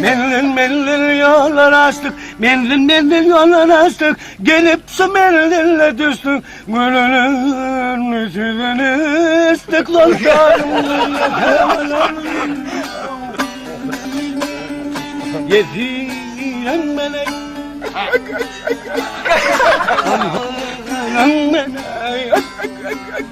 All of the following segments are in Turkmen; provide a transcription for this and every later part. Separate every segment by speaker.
Speaker 1: Menzil-menzil ýollar açdyk, Menzil-menzil ýollar açdyk, Gelip şu menzile düşdük, Gönüliň süýdüni içdik, Dostanym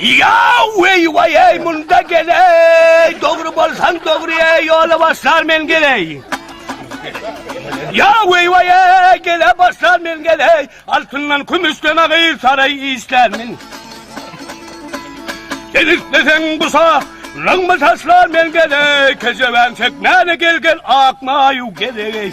Speaker 1: Ýaw weý-weý eý munda gel eý dogry bolsaň dogry eý ýola başlar men gel eý Ýaw weý-weý eý gele başlar men gel eý altyndan kümüşden agyr saraý işlän men Sen isleseň bu sa Rygmy taşlar men gel eý kejebäň çekmäne gel gel ak maýu gel eý